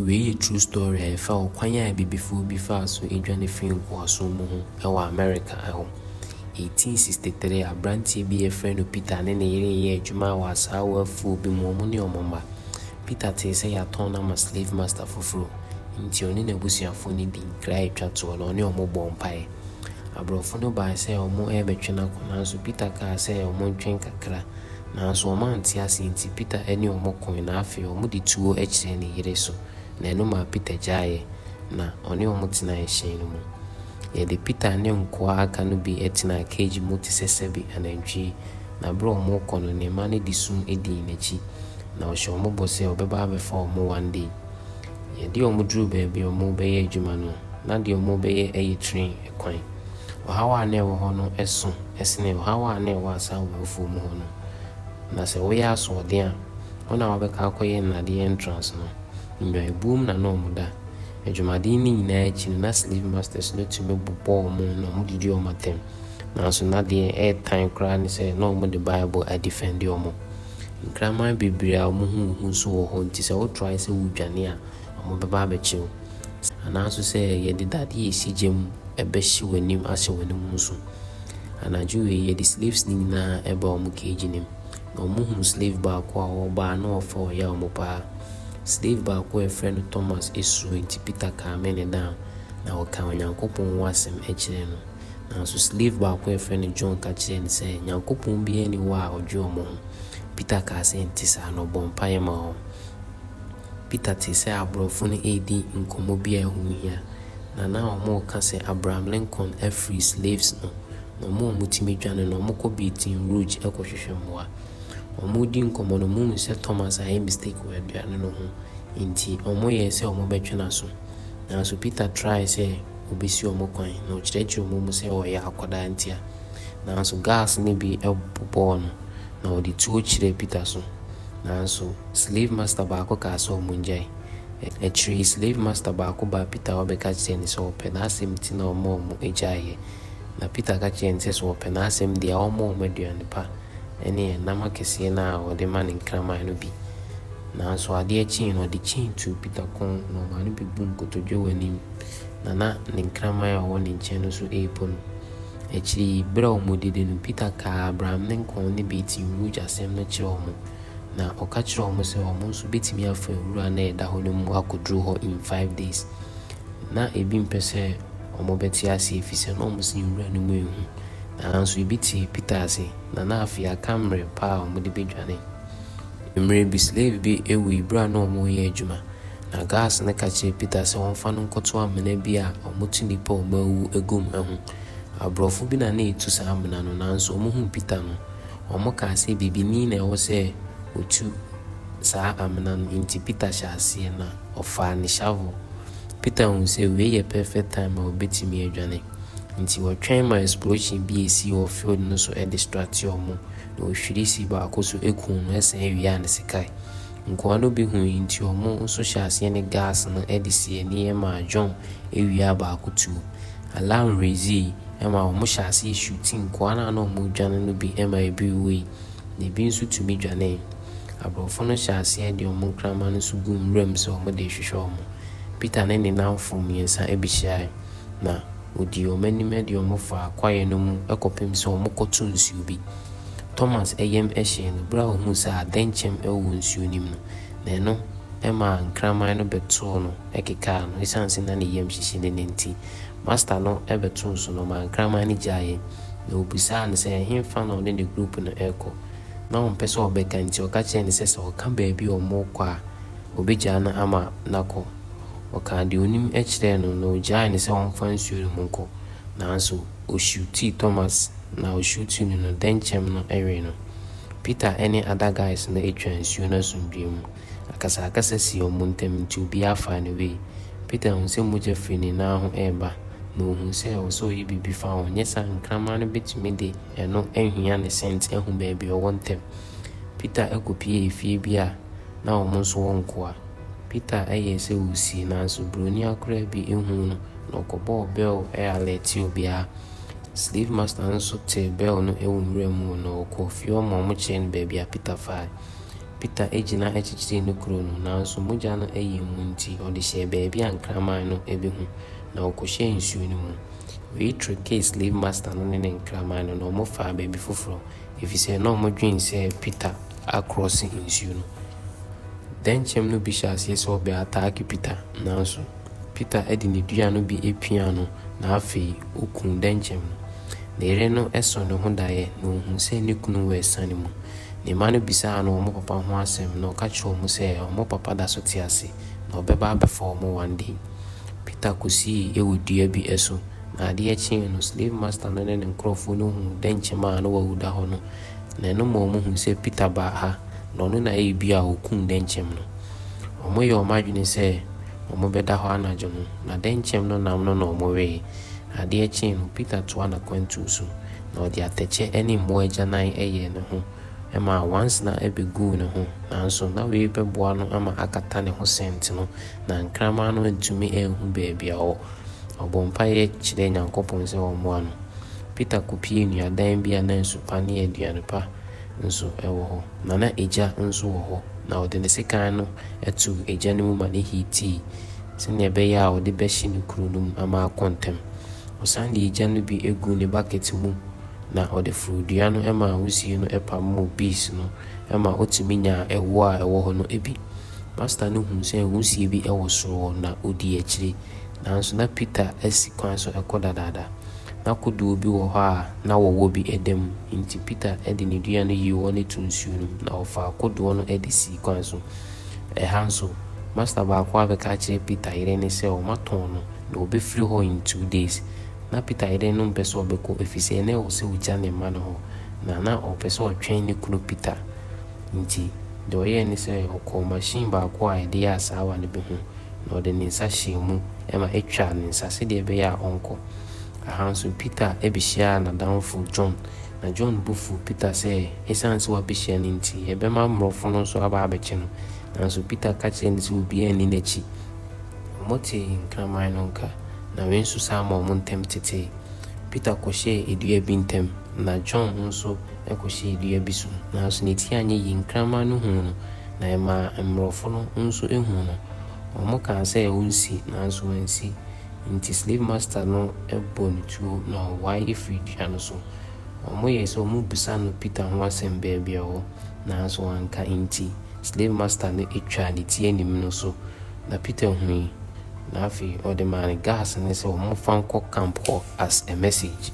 Wei yɛ true story a ɛfa ɔkwan a abibifoɔ bi faa so dwane firii nkoasom mu ho wɔ Amerika hɔ. 1863 aberanteɛ bi a yɛfrɛ no Peter ne ne yere yɛɛ adwuma wɔ asaawa afuo bi mu, wɔn ne wɔn mma. Peter tee sɛ yɛatɔn no ama slave master foforɔ, enti ɔne n'abusuafoɔ no dii nkra a ɛtwa toɔ na ɔne wɔn bɔɔ mpaeɛ. Aborɔfo no bae sɛ wɔrebɛtwe no akɔ nanso Peter kaa sɛ wɔntwɛn kakra Nanso wɔante ase nti, Peter ne wɔn koe, na afei wɔde tuo kyerɛɛ ne yere so, na ɛno maa Peter gyaeeɛ, na ɔne wɔn tenaa ɛhyɛn no mu. Yɛde Peter ne nkoa a aka no bi tenaa keegi mu te sɛ sɛbe anantwie, na bere a wɔrekɔ no, ne mma no de sum dii n'akyi, na ɔhyɛ wɔn bɔ sɛ ɔbɛba abɛfa wɔn one day. Yɛde wɔn duruu baabi a wɔrebɛyɛ adwuma no, na deɛ wɔrebɛyɛ yɛ train. kwan. Ɔhaw a na ɛwɔ hɔ no sõ sene ɔhaw a na ɛwɔ asaawa afuo mu hɔ no. Na sɛ woyɛ asoɔden a, wɔn a wɔbɛka akɔyɛ nnadeɛ entrance no, nnwanbuom na na wɔda. Adwumaden no nyinaa akyi no, na slave masters no tumi bobɔ wɔn na wɔdidi wɔn atɛm. Nanso na deɛ ɛtan koraa ne sɛ na wɔde Bible adifɛnde wɔn. Nkraman bebree a wɔn ho nhu nso wɔ hɔ nti sɛ wotrae sɛ woredwane a, wɔbɛba abɛkyere wo, anaa nso sɛ yɛde dadeɛ a ɛsi gya mu bɛhye w'anim ahyɛ w'anim nso. Anadwo wei, yɛde slaves no nyinaa baa wɔn cage no mu, na wɔhunuu slave baako a ɔbaa na ɔfa ɔya wɔn paa. Slave baako a wɔfrɛ no Thomas suro, enti Peter kaamee no down, na ɔkaa Onyankopɔn ho asɛm kyerɛɛ no. Nanso slave baako a wɔfrɛ no John ka kyerɛɛ no sɛ, Nyankopɔn biara nni hɔ a ɔdwe wɔn ho. Peter kaa sɛ, Ɛnte saa, na ɔbɔɔ mpaeɛ maa wɔn. Peter tee sɛ aborɔfo no redi nkɔmmɔ bi a ɛho hia, na na wɔreka sɛ Abraham Lincoln afiri slaves no, na wɔn a wɔtumi dwane no, wɔkɔ Baton Rouge kɔhwehwɛ mmoa. Wɔredi nkɔmmɔ no, wɔhuu sɛ Thomas ayɛ mistake wɔ aduane no ho, enti wɔyɛe sɛ wɔbɛtwe n'aso. Nanso Peter trae sɛ obesi wɔn kwan, na ɔkyerɛkyerɛɛ wɔn mu sɛ ɔyɛ akwadaa ntia. Nanso gas no bi bobɔɔ no, na ɔde tuo kyerɛɛ Peter so. Nanso, slave master baako kaa sɛ wɔngyae. Akyiri yi, slave master baako baa Peter hɔ bɛka kyerɛɛ no sɛ wɔpɛ n'asɛm nti na ɔma wɔgyaeeɛ. Na Peter ka kyerɛɛ no sɛ sɛ wɔpɛ n'asɛm deɛ, ɔmmɔ wɔn aduane pa ne ɛnam akɛseɛ no a wɔde ma no nkraman no bi. Nanso adeɛ kyeeɛ no, ɔde chain tuu Peter kɔn, na ɔmaa no bɛbuu nkotodwe wɔ anim, na na ne nkraman a ɔwɔ ne nkyɛn no nso repo no. Akyiri yi, bere a wɔredidi no, Peter kaa Abraham ne nkɔn ne Bet Yirmuj asɛm no kyerɛɛ wɔn, na ɔka kyerɛɛ wɔn sɛ wɔn nso betumi afa nwura a na ɛda hɔ no mu akoduru hɔ in five days. Ná ebi mpɛ sɛ wɔbɛte ase efisɛ na wɔn se nwura no mu yɛ hu. Nanso ebi tee Peter ase, na na afei aka mmere pa a wɔde bedwane. Mmere bi, slave bi wui bere a na wɔreyɛ adwuma. Na Gas no ka kyerɛɛ Peter sɛ ɔmfa no nkɔto amena bi a wɔto nnipa a wɔawuwu gu mu ho. Aborɔfo bi na na etu saa amena no, nanso wɔhuu Peter no, wɔkaa sɛ bibini na ɛwɔ sɛ otu saa amena no. Enti Peter hyɛɛ aseɛ, na ɔfaa ne shovel. Peter huu sɛ wei yɛ perfect time a obetumi adwane. Enti ɔtwɛn ma explosion bi a esii wɔ field no so distractee wɔn, na ohwirii si baako so kuu no sɛn wiaa ne sikae. Nkoa no bi hui nti wɔn nso hyɛɛ aseɛ ne gas no de sii ani maa John awia a baako tuo. Alarm reezii ma wɔn hyɛɛ aseɛ shuutii nkoa no a na wɔn redwane no bi ma ebi wuui na ebi nso tumi dwanee. Aborɔfo no hyɛɛ aseɛ de wɔn nkraman no nso guu nwura mu sɛ wɔn de rehwehwɛ wɔn. Peter ne ne nnamfo mmiɛnsa bɛhyiaeɛ na. Wɔdii wɔn anim de wɔn faa kwaeɛ no mu kɔpem sɛ wɔkɔto nsuo bi. Thomas yam hyee no berɛ a ɔhuu sɛ adɛnkyɛm wɔ nsuo no mu no, na ɛno maa nkraman no bɛtoo no kekaa no. Ɛsiane sɛ na ne yam hyehye no no nti, Master no bɛtoo so na ɔmaa nkraman no gyaeɛ. Na ɔbisaa no sɛ ɛhefa na ɔne ne group no rekɔ. Na ɔmpɛ sɛ ɔbɛka nti, ɔka kyerɛɛ no sɛ sɛ ɔka baabi a wɔrekɔ a, ɔbɛgyaa no ama no akɔ. Ɔkaa deɛ ɔnim kyerɛɛ no, na ɔgyaee no sɛ ɔmfa nsuo no mu nkɔ. Nanso, ɔhyutii Thomas, na ɔhyutii no no, dɛnkyɛm no wee no. Peter ne other guys no twaa nsuo no asomdwoeɛ mu. Akasakasa sii wɔn ntam, nti obiara faa ne way. Peter huu sɛ mogya firi ne nan ho reba, na ɔhuu sɛ ɛwɔ sɛ ɔyɛ biribi fa ho, nyɛ saa a nkraman no bɛtumi de ɛno ahia ne scent ahu baabi ɔwɔ ntɛm. Peter kɔpuee efie bi a. na wɔn nso wɔnkoa. Peter yɛɛ sɛ ɔresie nanso buroni akoraa bi huu no na ɔkɔbɔɔ bɛl alɛɛtee obiara. Slave master no nso tee bɛl no wɔ nwura mu na ɔkɔɔ fie hɔ ma wɔkyerɛɛ no baabi a Peter faae. Peter gyina kyekyeree ne kuro no nanso mogya no yɛɛ mu nti ɔde hyɛɛ baabi a nkraman no bɛhu na ɔkɔhyɛɛ nsuo no mu. Wei trickee slave master no ne ne nkraman no na wɔfaa baabi foforɔ efisɛ na wɔdwene sɛ Peter akrɔse nsuo no. Dɛnkyɛm no bi hyɛɛ aseɛ sɛ ɔbɛ ataake Peter nanso Peter de ne dua no bi piaa no na afei ɔkuu dɛnkyɛm no. Ne yere no sɔɔ ne ho daeɛ na ɔhuu sɛ ne kunu wɔ asiane mu. Ne mma no bisaa no wɔn papa ho asɛm na ɔka kyerɛɛ wɔn sɛ wɔn papa da so te ase na ɔbɛba abɛfa wɔn one day. Peter kɔsii wɔ dua bi so na adeɛ kyee no slave master no ne ne nkorɔfoɔ no huu dɛnkyɛm a na wawu da hɔ no na ɛno ma wɔhuu sɛ Peter baa ha na ɔno na ɛyɛ bi a ɔkuu dɛnkyɛm no. Wɔyɛɛ wɔn adwene sɛ wɔbɛda hɔ anadwo no, na dɛnkyɛm no nam no na wɔwee. Adeɛ kyee no, Peter toaa n'akwantuo so, na ɔde atɛkyɛ ne mmoa agyanan yɛɛ ne ho ma nwansena bɛguu ne ho, nanso na wei bɛboa no ama akata ne ho sɛnti no, na nkraman no antumi anhu baabi a ɔwɔ. Ɔbɔɔ mpaeɛ kyerɛɛ Nyankopɔn sɛ ɔmmoa no. Peter kopiee nnuadan bi a na nsu pa ne aduan pa nso wɔ hɔ, na na egya nso wɔ hɔ, na ɔde ne sekan no too egya no mu ma no hiitii sɛnea ɛbɛyɛ a ɔde bɛhye ne kuru no mu ama akɔ ntɛm. Ɔsan de egya no bi guu ne bakɛt mu, na ɔde foroo dua no maa wusiw no pamoo bees no ma otumi nyaa ɛwo a ɛwɔ hɔ no bi. Pastor no hui sɛ wusiw bi wɔ soro hɔ, na odii akyiri. nanso na Peter asi kwan so rekɔ dadaada. Ná kodoɔ bi wɔ hɔ a na wɔwɔ bi da mu. Enti Peter de ne dua no yii hɔ no too nsuo no mu, na ɔfaa kodoɔ no de sii kwan so. Ɛha nso, masta baako abɛka akyerɛ Peter yere no sɛ wɔatɔn no, na ɔbɛfiri hɔ in two days. Ná Peter yere no mpɛ sɛ ɔbɛkɔ, ɛfiri sɛ na ɛwɔ sɛ ɔgya ne mma no hɔ, na na ɔpɛ sɛ ɔtwɛn ne kunu Peter. Enti deɛ ɔyɛeɛ ne sɛ, ɔkɔɔ machine baako a yɛde yɛ asaawa no bi ho, na ɔde ne nsa hyɛɛ mu ma etwaa ne nsa sɛdeɛ ɛbɛyɛ a ɔnkɔ. Aha nso, Peter bɛhyiaa n'adamfo John, na John bo fuu Peter sɛ ɛsiane sɛ wabɛhyia no nti, ɛbɛma mmorɔfo no nso aba abɛkye no. Nanso Peter ka kyerɛɛ no sɛ obiara nni n'akyi. Wɔtee nkraman no nka, na wei nso san maa wɔn ntam tetee. Peter kɔhyɛɛ dua bi ntam, na John nso kɔhyɛɛ dua bi so, nanso ne ti anyɛ yie. Nkraman no huu no, na ɛmaa mmorɔfo no nso huu no. Wɔkaa sɛ onsi, nanso wansi. Enti slave master no bɔ no tuo na ɔwae firii dua no so. Wɔyɛe sɛ wɔbisa no Peter ho asɛm baabi a ɔwɔ, nanso wanka. Enti slave master no twaa ne ti anim no so, na Peter hui, na afei ɔde maa no gas no sɛ wɔmfa nkɔ camp hɔ as a message.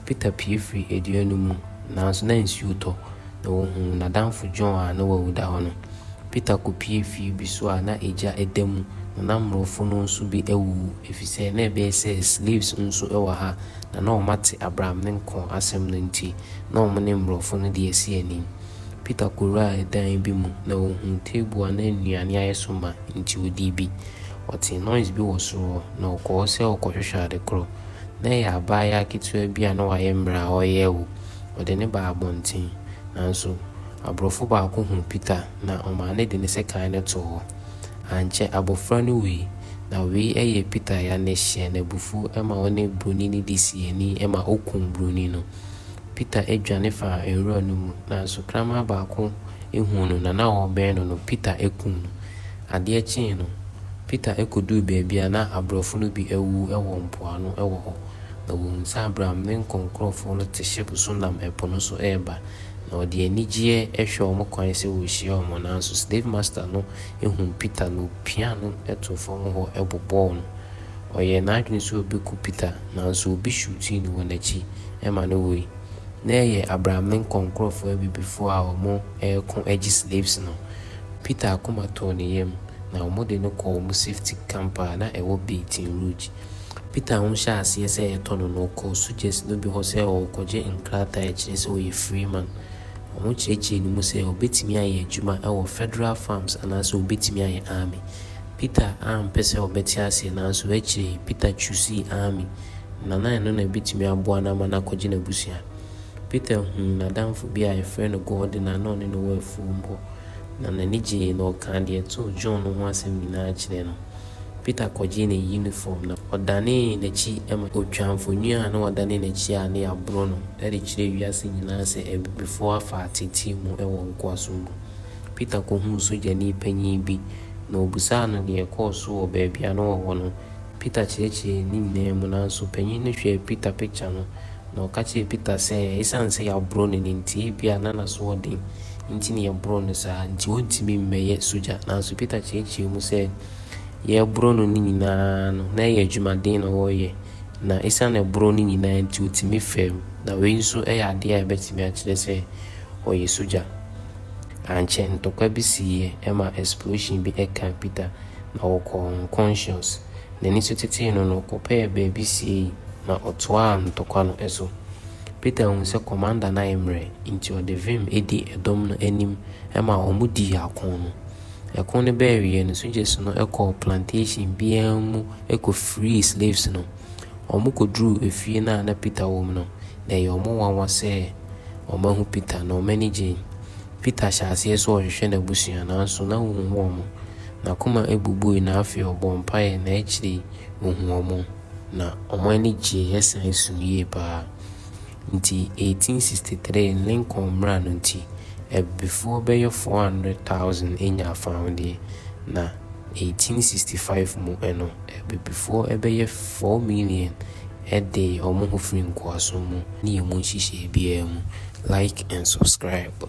Peter pue firii dua no mu, nanso na nsuo tɔ. na wɔhuu n'adamfo John a na wawu da hɔ no. Peter kɔpuee fie bi so a na egya da mu, na na mmorɔfo no nso bi awuwu, efisɛ na ɛbɛyɛ sɛ slaves nso wɔ ha, na na wɔate Abram ne nko asɛm no nti, na wɔn ne mmorɔfo no de asi anim. Peter kɔwuraa ɛdan bi mu, na ɔhuu table a na nnuane ayɛ so ma, enti ɔdii bi. Ɔtee noise bi wɔ soro hɔ, na ɔkɔɔ hɔ sɛ ɔrekɔhwehwɛ ade koro. Na ɛyɛ abaayewa ketewa bi a na wayɛ mmerɛ a ɔreyɛ awu. Ɔde no baa abɔnten, nanso aborɔfo baako huu Peter na ɔmaa no de ne sekan no too hɔ. Ankyɛ abofra no wui. Na wei yɛɛ Peter ya na ɛhyɛɛ no abufuw ma ɔne Buroni no de sii ani ma okum Buroni no. Peter dwane faa nwura no mu, nanso kraman baako huu no na na ɔrebɛn no no, Peter kum no. Adeɛ kyee no, Peter koduu baabi a na aborɔfo no bi awuwu wɔ mpoano wɔ hɔ. Na wɔhunu sɛ Abram ne nkɔnkorɔfoɔ no te hyɛpo so nam ɛpo no so reba, na wɔde anigyeɛ hwɛ wɔn kwan sɛ wɔrehyia wɔn, nanso slave master no hunuu Peter na ɔpiaa no too fam hɔ bobɔɔ no. Ɔyɛɛ n'adwene sɛ ɔbɛku Peter, nanso obi hwiutii no wɔ n'akyi ma no wui. Na ɛyɛ Abram ne nkɔnkorɔfoɔ abibifoɔ a wɔreko agye slaves no. Peter akoma tɔɔ ne yam, na wɔde no kɔɔ wɔn safety camp a na ɛwɔ Baton Rouge. Peter ho hyɛɛ aseɛ sɛ ɛretɔ no no, ɔkɔɔ Suchet no bi hɔ sɛ ɔrekɔgye nkrataa a ɛkyerɛ sɛ ɔyɛ freeman. Wɔkyerɛkyerɛɛ no mu sɛ ɔbɛtumi ayɛ adwuma wɔ Federal Farms anaasɛ ɔbɛtumi ayɛ Army. Peter ampɛ sɛ ɔbɛte aseɛ, nanso akyire yi, Peter chuusii Army, na na ɛno na ɛbɛtumi aboa no ama no akɔgye n'abusua. Peter huu n'adamfo bi a yɛfrɛ no Gordon a na ɔne no wɔ afuom hɔ, na n'ani gyee na ɔkaa deɛ ɛtoo John no ho asɛm nyinaa kyerɛɛ no. Peter kɔgyee ne yunifɔm na ɔdanee n'akyi ma otwaa mfoni a na wadane n'akyi a na yɛaboro no de kyerɛɛ wiase nyinaa sɛ abibifo afa ateetee mu wɔ nkoasom mu. Peter kohuu sogyani panyin bi, na obisaa no nea ɛkɔɔ so wɔ baabi a na ɔwɔ no. Peter kyerɛkyerɛɛ ne nyinaa mu, nanso panyin no hwɛɛ Peter pikya no Na ɔka kyerɛɛ Peter sɛ esiane sɛ yɛaboro no no nti, ebia na n'asoɔden nti na yɛboro no saa, nti ɔrentumi mmɛyɛ sogya. Nanso Peter kyerɛkyerɛɛ mu sɛ yɛreboro no no nyinaa no, na ɛyɛ adwumaden na ɔreyɛ, na esiane ɛboro no nyinaa nti ɔtumi fam. Na wei nso yɛ adeɛ a ɛbɛtumi akyerɛ sɛ ɔyɛ sogya. Ankyɛ, ntɔkwa bi siiɛ ma explosion bi kaa Peter, na ɔkɔɔ unconscious. n'ani so tetee no no, ɔkɔpɛɛ baabi siei na ɔtoaa ntɔkwa no so. Peter hui sɛ kɔmanda no ayɛ mmerɛ, enti ɔde vim di ɛdɔm no anim ma wɔdii ako no. Ɛko no bɛɛ awieɛ no, sogyasu no kɔɔ plantation biara mu kɔfirii slaves no. Wɔkɔduruu efie no a na Peter wɔ mu no, na ɛyɛɛ wɔn nwanwa sɛ wɔahu Peter, na wɔn ani gyee. Peter hyɛɛ aseɛ sɛ ɔrehwehwɛ n'abusua, nanso na ɔnhu wɔn. N'akoma bubui, na afei ɔbɔɔ mpaeɛ, na akyire yi ɔhuu wɔn, na wɔn ani gyeeɛ san suu yie pa ara. Enti 1863 Lincoln mmara no nti, abibifoɔ bɛyɛ 400,000 nyaa fawodeɛ, na 1865 mu no, abibifoɔ bɛyɛ four million de wɔn ho firi nkoasom mu ne emu nhyehyɛe biara mu. Like and subscribe.